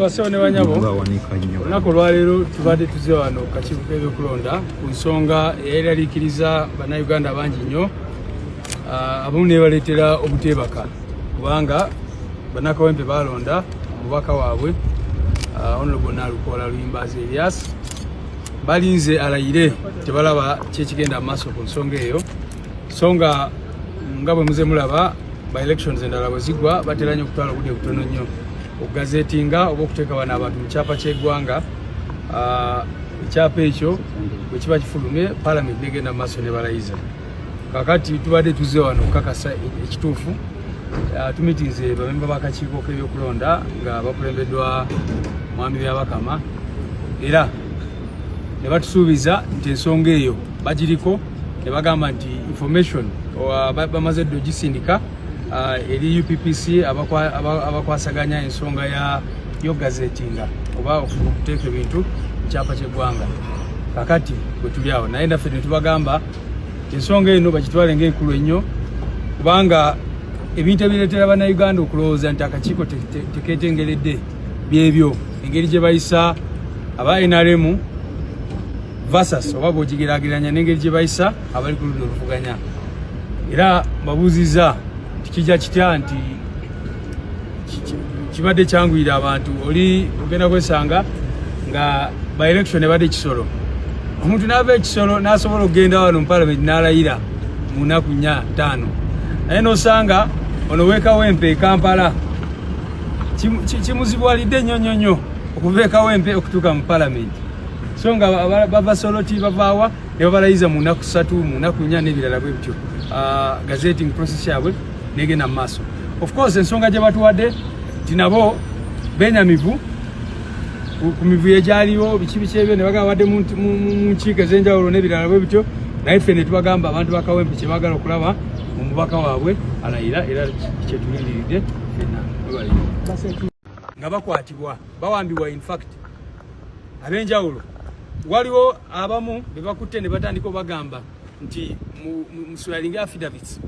Basawo ne banyabo olunaku olwaleero tubadde tuze wano kakiiko k'ebyokulonda ku nsonga eyayiralikiriza bannayuganda bangi nnyo ah, abamu nebaleetera obuteebaka kubanga bannakawempe baalonda omubaka waabwe ah, honorable nalukoola luyimbaazi elias balinze alayire tebalaba kyekigenda mu maaso ku nsonga eyo so nga nga bwe muze mulaba by elections endala bwe zigwa batera nnyo okutwala obudde butono nnyo okugazetinga oba okuteeka bano abantu mu kyapa ky'eggwanga ah, ekyapa ekyo bwe kiba kifulumye palamenti negenda mu maaso ne balayiza kakati tubadde tuzze wano okukakasa ekituufu ah, tumitinze bamemba b'akakiiko k'ebyokulonda nga bakulembeddwa mwami byabakama era ne batusuubiza nti ensonga eyo bagiriko ne bagamba nti information bamaze dda ogisindika uh, eri UPPC abakwasaganya ensonga yo gazetinga oba okuteeka ebintu mu kyapa ky'eggwanga kakati bwe tuli awo naye naffe ne tubagamba ensonga eno bagitwale ngaenkulu ennyo kubanga ebintu ebireetera bannayuganda okulowooza nti akakiiko tekeetengeredde byebyo engeri gye bayisa aba nrm versus oba bwogigeraageranya n'engeri gye bayisa abali ku ludda oluvuganya era babuuzizza tikijja kitya nti kibadde kyanguyira abantu oli ogenda kwesanga nga by election ebadde ekisolo omuntu naava ekisolo nasobola okugenda wano mu palamenti nalayira mu nnaku nya ttaano naye nosanga ono wekawempe ekampala kimuzibwalidde nnyo nnyo nnyo okuva ekawempe okutuuka mu palamenti so nga bava soloti bavaawa ne babalayiza mu nnaku ssatu mu nnaku nnya n'ebirala bwe bityo ah, gazeting process yabwe negenda mu maaso of course ensonga gye batuwadde nti nabo benyamivu ku mivuyo egyaliwo biki biki ebyo ne bagamba badde mu nkiiko ez'enjawulo n'ebirala bwe bityo naye ffe ne tubagamba abantu bakawempe kye baagala okulaba omubaka waabwe alayira era kyetulindiridde fenna nga bakwatibwa bawambibwa infact abenjawulo waliwo abamu bebakutte ne batandika obagamba nti musulalinga affidavits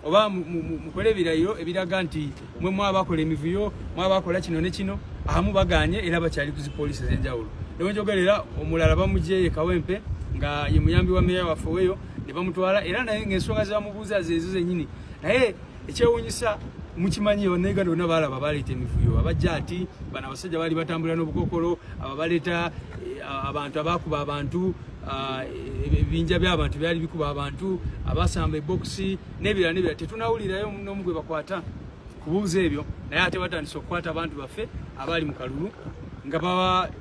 oba mukole ebirayiro ebiraga nti mwe mwabakola emivuyo mwabakola kino ne kino abamu baganye era bakyali kuzipolisi ezenjawulo newenjogerera omulala bamujeye kawempe nga ye muyambi wa meya waffe weyo ne bamutwala era naye ngaensonga zebamubuuza zezo zenyini naye ekyewunyisa mukimanyi bannauganda bonna baalaba baleeta emivuyo abajja ati bano abasajja baali batambulira n'obukokolo ababaleeta eh, abantu abaakuba abantu ah, ebibinja by'abantu byali bikuba abantu abasamba ebokisi n'ebirala n'ebirala tetunawulirayo n'omu gwe bakwata kubuuza ebyo naye ate batandise okukwata abantu baffe abaali mu kalulu nga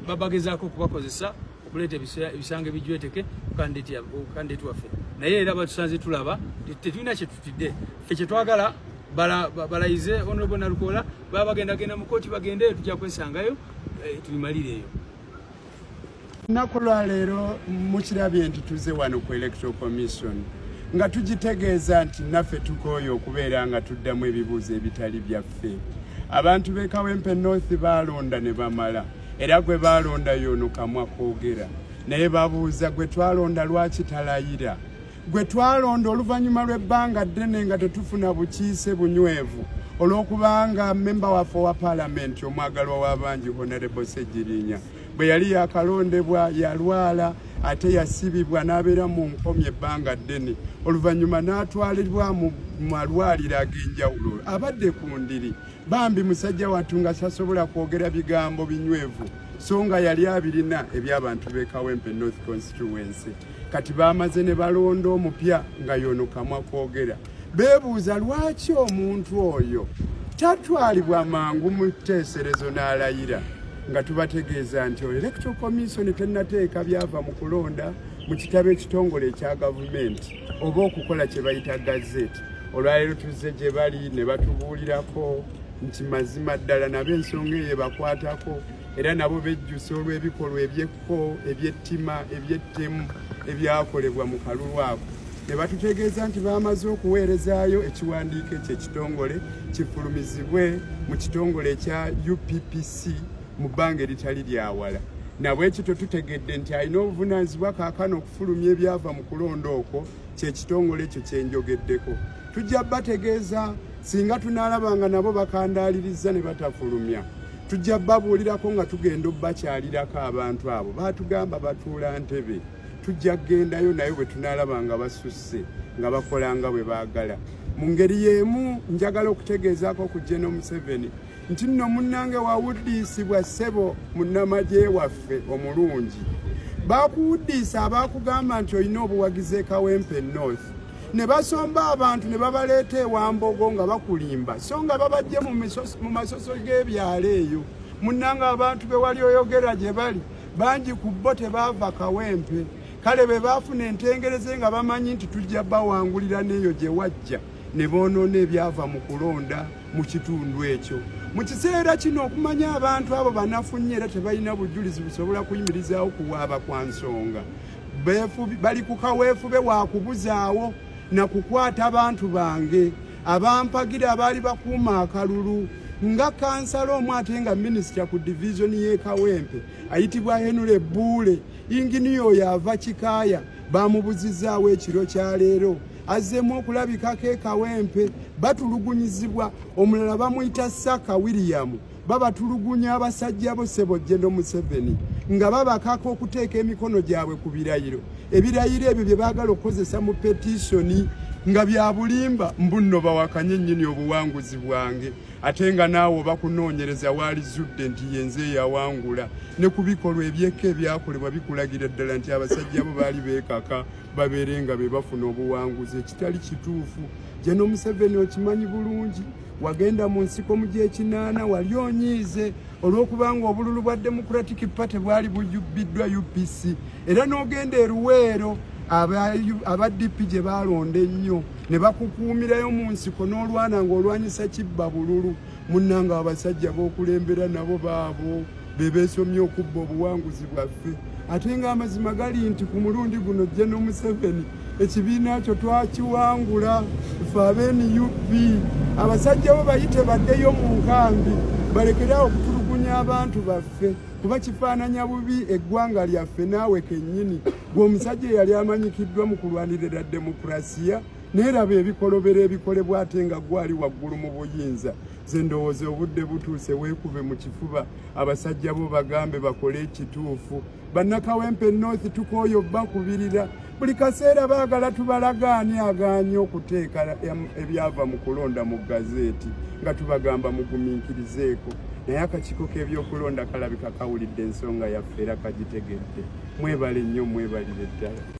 babagezaako okubakozesa okuleeta ebisango ebijweteke kukandideti waffe naye era batusanze tulaba tetulina today fe kyetwagala balayize bala honorable nalukola baba bagenda genda mu kooti bagendeyo tujja kwesangayo eh, tubimalireeyo lunaku lwaleero mukirabye nti tuze wano ku electoral commission nga tugitegeeza nti naffe tukooye okubeera nga tuddamu ebibuuzo ebitali byaffe abantu b'e kawempe north baalonda ne bamala era gwe baalonda yoono kamwa koogera naye babuuza gwe twalonda lwaki talayira gwe twalonda oluvannyuma lw'ebbanga ddene nga tetufuna bukiise bunywevu olw'okubanga mmemba waffe owa paalamenti omwagalwa w'abangi honorable ssegirinya bwe yali yakalondebwa yalwala ate yasibibwa n'abeera mu nkomi ebbanga ddene oluvannyuma n'atwalibwa mu malwaliro ag'enjawulo abadde ku ndiri bambi musajja wattu nga sasobola kwogera bigambo binywevu so nga yali abirina eby'abantu b'ekawempe north constituency kati bamaze ne balonda omupya nga yono kamwa kwogera bebuuza lwaki omuntu oyo tatwalibwa mangu mu teeserezo n'alayira nga tubategeeza nti electoral commission tenateeka byava mu kulonda mu kitabo ekitongole ekya gavumenti oba okukola kye bayita gazeti olwaleero tuzze gye bali ne batubuulirako nti mazima ddala nabo ensonga eyo ebakwatako era nabo bejjusa olw'ebikolwa ebyekko ko ebyettima ebyettemu ebyakolebwa mu kalulu ako ne batutegeeza nti baamaze okuweerezaayo ekiwandiiko ekyo ekitongole kifulumizibwe mu kitongole ekya UPPC mu bbanga eritali lyawala nabwekityo tutegedde nti alina obuvunaanyizibwa kaakano okufulumya ebyava mu kulonda okwo kyekitongole ekyo kyenjogeddeko tujja bategeeza singa tunaalaba nga nabo bakandaalirizza ne batafulumya tujja babuulirako nga tugenda obakyalirako abantu abo baatugamba batuula ntebe tujja kugendayo naye bwe tunaalaba nga basusse nga bakola nga bwe baagala mu ngeri y'emu njagala okutegeezaako ku jeno museveni nti nno munnange wawuddiisibwa ssebo munnamagye waffe omulungi baakuwuddiisa abaakugamba nti olina obuwagizi ekawempe north ne basomba abantu ne babaleeta ewambogo nga bakulimba so nga babajje mu masoso g'ebyalo eyo munnanga abantu be wali oyogera gye bali bangi ku bo tebaava kawempe kale be baafuna entengereze nga bamanyi nti tujja bawangulira n'eyo gye wajja ne boonoona ebyava mu kulonda mu kitundu ekyo mu kiseera kino okumanya abantu abo banafunye era tebalina bujulizi busobola kuyimirizaawo kuwaaba kwa nsonga bali ku kaweefube wa kubuzaawo na kukwata bantu bange abampagira abaali bakuuma akalulu nga kansala omu ate nga minisita ku divizoni y'e kawempe ayitibwa henule buule inginiya oyo ava kikaaya bamubuzizaawo ekiro kya leero azzeemu okulabikako e kawempe batulugunyizibwa omulala bamuyita saka williyamu babatulugunya abasajja bo sebo jendo museveni nga babakaka okuteeka emikono gyabwe ku birayiro ebirayiro ebyo bye baagala okukozesa mu petisoni nga byabulimba mbunno bawakanye nnyini obuwanguzi bwange ate nga naawe oba kunoonyereza waali zudde nti yenze eyawangula ne ku bikolwa ebyekka ebyakolebwa bikulagira ddala nti abasajja bo baali beekaka babeere nga be bafuna obuwanguzi ekitali kituufu jeno museveni okimanyi bulungi wagenda mu nsiko mu gyekinaana wali onyiize olw'okubanga obululu bwa democratic party bwali bujubbiddwa upc era n'ogenda eruweero aba dp gye baalonda ennyo ne bakukuumirayo mu nsiko n'olwana ng'olwanyisa kibba bululu munnanga abasajja b'okulembera nabo baabo be beesomye okubba obuwanguzi bwaffe ate ng'amazima gali nti ku mulundi guno jje n'omuseveni ekibiina kyo twakiwangula fe abenup abasajja bo bayite baddeyo mu nkambi balekerawo okutulugunya abantu baffe kuba kifaananya bubi eggwanga lyaffe naawe kennyini gwe omusajja eyali amanyikiddwa mu kulwanirira demokurasiya neeraba ebikolobero ebikolebwa ate nga gwali waggulu mu buyinza nze ndowooza obudde butuuse weekube mu kifuba abasajja bo bagambe bakole ekituufu bannakawempe north tukooyo bakubirira buli kaseera baagala tubalagaani agaanye okuteeka ebyava mu kulonda mu gazeeti nga tubagamba mugumiikirizeeko naye akakiiko k'ebyokulonda kalabika kawulidde ensonga yaffe era kagitegedde mwebale nnyo mwebalire ddala